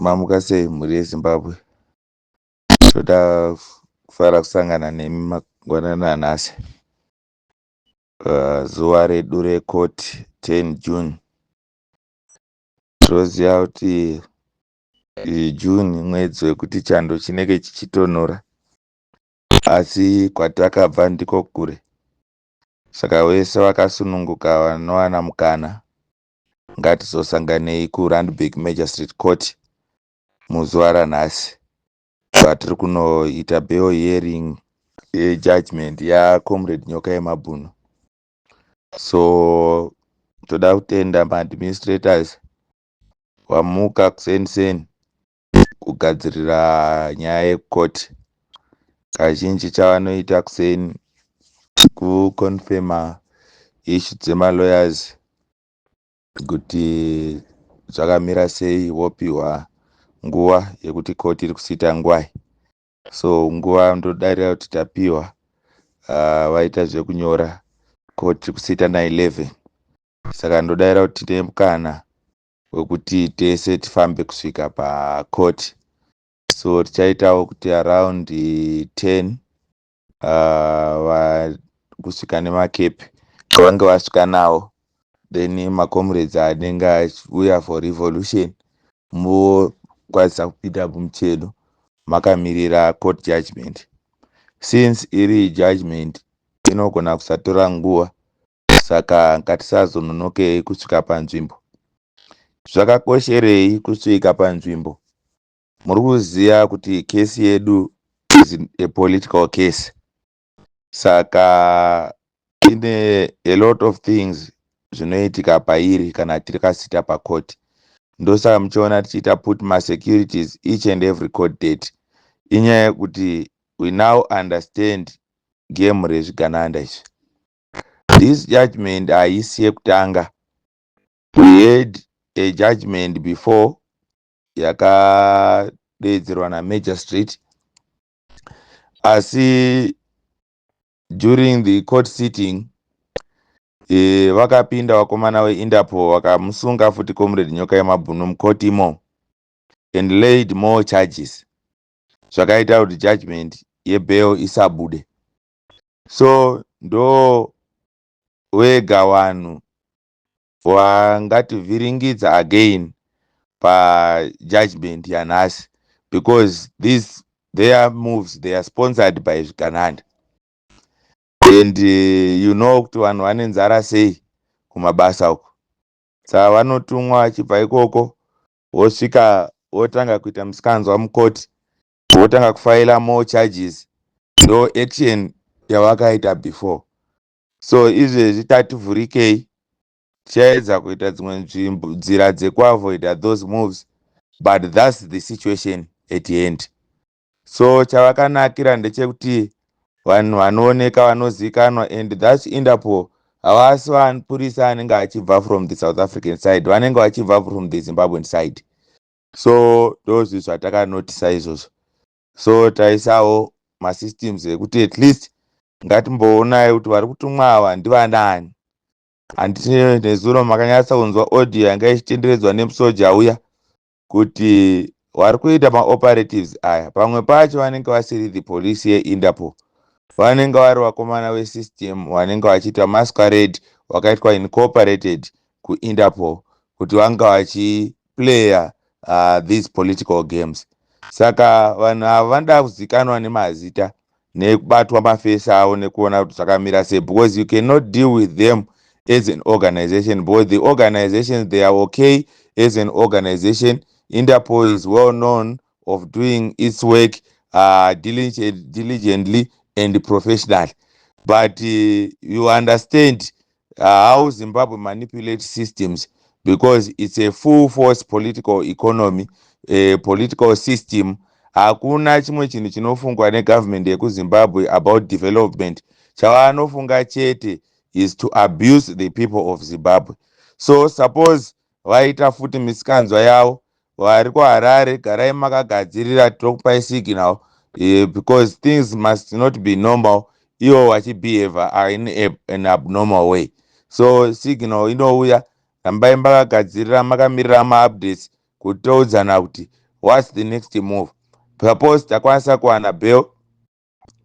Mamuka sei mhuri yeZimbabwe? Toda kufara kusangana nemi mangwanana anhasi uh, zuva redu rekoti 10 June. Tinoziva kuti June mwedzi wekuti chando chinenge chichitonhora, asi kwatakabva ndiko kure, saka wese wakasununguka vanowana mukana ngatizosanganei kuRandburg Magistrate Court muzuva ranhasi patiri kunoita bail hearing yejudgment yacomrade nyoka yemabhunu so toda kutenda maadministrators wamuka kuseni seni kugadzirira nyaya yecourt kazhinji chavanoita kuseni kuconfirma ishu dzemalawyers kuti zvakamira sei vopiwa nguva yekuti court iri kusiita ngwai so nguva ndodarira kuti tapiwa uh, vaita zvekunyora court iri kusiita na 11 saka ndodaira kuti nemukana wekuti tese tifambe kusvika pacourt so tichaitawo kuti around 10 uh, kusvika nemakepi vange vasvika nawo then macomrades anenge achiuya for revolution mokwanisa kupinda mumuchedo makamirira court judgment since iri judgment inogona kusatora nguva saka ngatisazononokei kusvika panzvimbo zvakakosherei kusvika panzvimbo muri kuziva kuti kesi yedu is a political case saka ine a lot of things zvinoitika pairi kana tiri kasita pakoti ndosaka muchiona tichiita put masecurities each and every court date inyaya yekuti we now understand game rezvigananda izvi This judgment haisi yekutanga. We had a judgment before yakadeedzerwa namagistrate asi during the court sitting e, vakapinda vakomana weindapo vakamusunga futi comrade nyoka yemabhunu mukoti imo and laid more charges zvakaita kuti judgment yebail isabude so ndo wega wanhu wangativhiringidza again pajudgment yanhasi because these their moves they are sponsored by zvigananda and uh, you know kuti vanhu vane nzara sei kumabasa uko saka vanotumwa vachibva ikoko vosvika votanga kuita musikanzwa mukoti votanga kufaila more charges ndo action yavakaita before so izvezvi tativhurikei tichaedza kuita dzimwe nzvimbo nzira dzekuavoida those moves but thats the situation at end so chavakanakira ndechekuti vanhu vanooneka vanozivikanwa and thats interpol havasi vapurisa anenge achibva from the south african side vanenge vachibva from the zimbabwean side so ndozvi zvatakanotisa izvozvo so taisawo masystems ekuti at least ngatimboonai kuti vari kutumwa ava ndivanani handiti nezuro makanyatsa kunzwa audio yanga ichitenderedzwa nemusoja uya kuti vari kuita maoperatives aya pamwe pacho vanenge vasiri the police yeindapo vanenge vari vakomana vesystem vanenge vachiita masquarade wakaitwa incorporated kuindapo kuti vanga vachi player uh, these political games saka vanhu avo vanoda kuzikanwa nemazita nekubatwa mafesi avo nekuona kuti zvakamira sei because you cannot deal with them as an organization because the organizations they are okay as an organization interpol is well known of doing its work uh, diligently and professionally but uh, you understand how zimbabwe manipulate systems because it's a full force political economy a political system hakuna chimwe chinhu chinofungwa negovernment yekuzimbabwe about development chavanofunga chete is to abuse the people of zimbabwe so suppose vaita futi misikanzwa yavo Vari kuHarare garai makagadzirira tinokupai signal uh, because things must not be normal iwo wachibehavior are in a, an abnormal way so signal inouya rambai makagadzirira makamirira maupdates kuti toudzana kuti whats the next move suppose takwanisa kuwana bell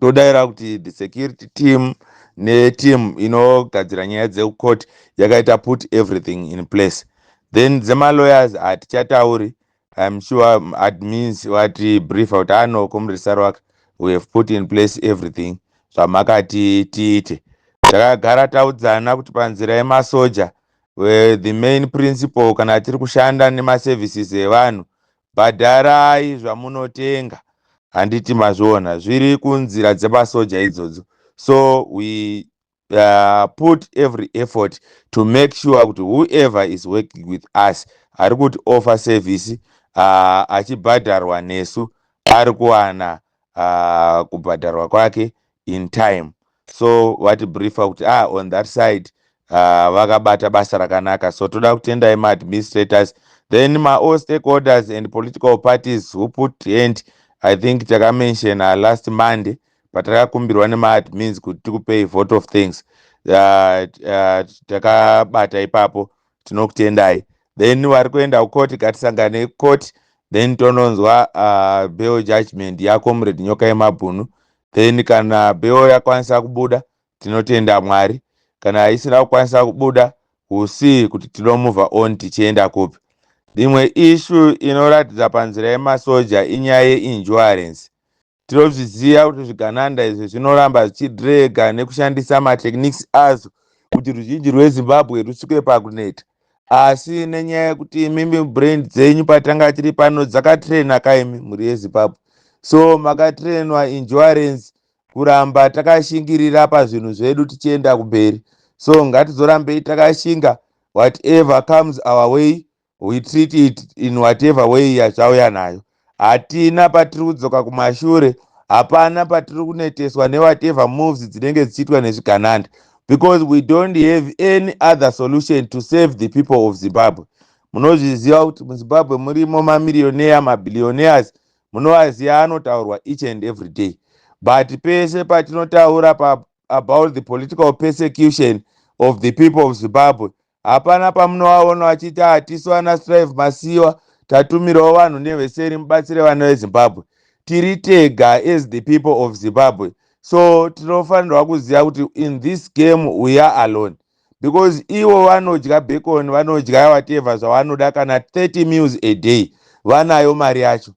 todaira kuti the security team neteam inogadzira nyaya dzekucourt yakaita put everything in place then dzemalawyers hatichatauri im sure um, admins vati briefa kuti ano ah, komresaro wake we have put in place everything zvamakati tiite takagara taudzana kuti panzira yemasoja the main principle kana tiri kushanda nemaservices evanhu bhadharai zvamunotenga handiti mazviona zviri kunzira dzemasoja idzodzo so we uh, put every effort to make sure kuti whoever is working with us ari kuti offer service uh, achibhadharwa nesu ari kuwana uh, kubhadharwa kwake in time so vati briefa kuti ah on that side uh, vakabata basa rakanaka so toda kutendai maadministrators then maall stakeholders and political parties who put hand i think takamensiona last monday patakakumbirwa nemaadmins kuti tikupei vote of things uh, uh, takabata ipapo tinokutendai then vari kuenda kukoti gatisangane kukoti then tononzwa uh, bell judgment yako muredi nyoka yemabhunu then kana beo yakwanisa kubuda tinotenda mwari kana isina kukwanisa kubuda we'll see kuti tinomove on tichienda kupi imwe ishu inoratidza panzira yemasoja inyaya yeinsurance tinozviziva kuti zvigananda izvi zvinoramba zvichidrega nekushandisa matechniques azvo kuti ruzhinji rwezimbabwe rusvike pakuneta asi nenyaya yekuti imimi brand dzenyu patanga tiri pano dzakatraina kaimi mhuri yezimbabwe so makatrainwa insurance kuramba takashingirira pazvinhu zvedu tichienda kumberi so ngatizorambei takashinga whatever comes our way we treat it in whatever way yazvauya nayo hatina patiri kudzoka kumashure hapana patiri kuneteswa newhatever moves dzinenge dzichiitwa nezvigananda because we don't have any other solution to save the people of zimbabwe munozviziva kuti muzimbabwe murimo mamiriyoneya mabillionaires munovaziva anotaurwa each and every day but pese patinotaura pa about the political persecution of the people of zimbabwe Hapana pamunovaona vachiti hatisu vana Strive Masiyiwa tatumirawo vanhu neveseri mubatsire vana veZimbabwe. Tiri tega as the people of Zimbabwe. So tinofanirwa kuziva kuti in this game we are alone because ivo vanodya bacon vanodya whatever zvavanoda kana 30 meals a day vanayo mari yacho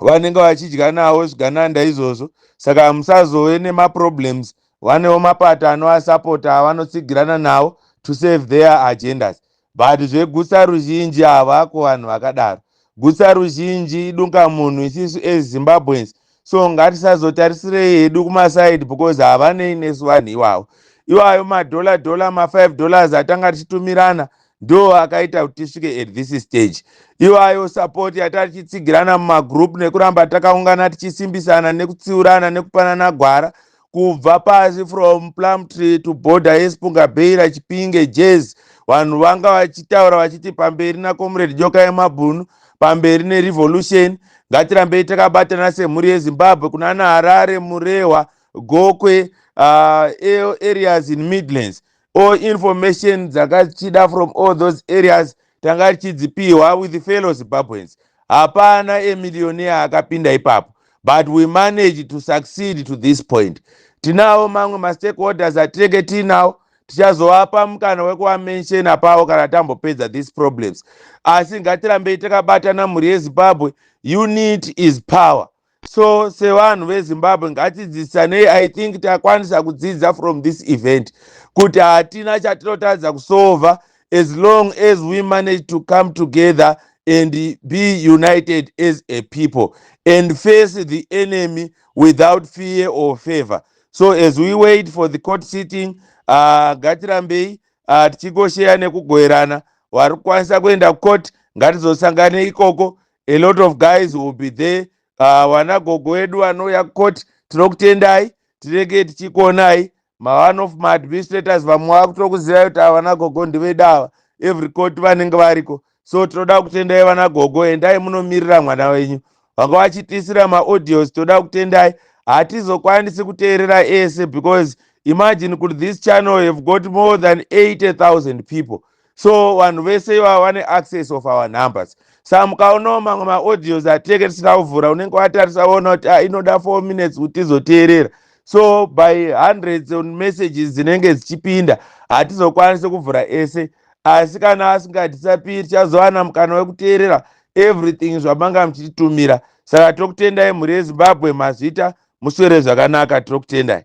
vanenge vachidya nawo zvigananda izvozvo saka hamusazove nemaproblems vanewo mapato anoasapota avanotsigirana nawo to save their agendas but zvegutsa ruzhinji havako vanhu vakadaro gutsa ruzhinji idunga munhu isisu as zimbabweans so ngatisazotarisirei hedu kumaside because havanei nesu vanhu iwawo iwayo madhola dhola ma5 dollars atanga tichitumirana ndo akaita kuti tisvike at this stage iwayo support yatari tichitsigirana mumagroup nekuramba takaungana tichisimbisana nekutsiurana nekupanana gwara kubva pasi from plum tree to border yesipunga beira chipinge jazz vanhu vanga vachitaura vachiti pamberi nacomrade joka yemabhunu pamberi nerevolution ngatirambei takabatana semhuri yezimbabwe kunana harare murehwa gokwe uh, areas in midlands all information dzakachida from all those areas tanga tichidzipihwa with fellow zimbabweans hapana emillionaire akapinda ipapo but we managed to succeed to this point tinawo mamwe mastakeholders atinenge tiinawo tichazovapa mukana wekuamenshena pavo kana tambopedza these problems asi ngatirambei takabatana mhuri yezimbabwe unit is power so sevanhu vezimbabwe ngatidzidzisanei i think takwanisa kudzidza from this event kuti hatina chatinotadza kusova as long as we manage to come together and be united as a people and face the enemy without fear or favor so as we wait for the court sitting uh, ngatirambei uh, tichigosheya nekugoerana wari kukwanisa kuenda kucourt ngatizosangane ikoko a lot of guys will be there ah, vana gogo vedu vanouya kukoti tinokutendai tinenge tichikuonai maone of maadministrators vamwe vakutokuziva kuti ava vana gogo ndiveda ava every court vanenge variko so tinoda kutendai vana gogo endai munomirira mwana wenyu vanga vachitiisira maaudios tinoda kutendai hatizokwanisi kuteerera ese because imagine kuti this channel have got more than 80000 people so vanhu vese ivava vane access of our numbers sa mukaonawo mamwe maaudios atinenge tisina kuvhura unenge watarisa woona kuti ah, inoda four minutes kuti tizoteerera so by hundreds on messages dzinenge dzichipinda hatizokwanisi kuvhura ese asi kana asingadisapiri tichazowana mukana wekuteerera everything zvamanga muchititumira saka tokutendai mhuri yezimbabwe mazvita muswere zvakanaka tokutendai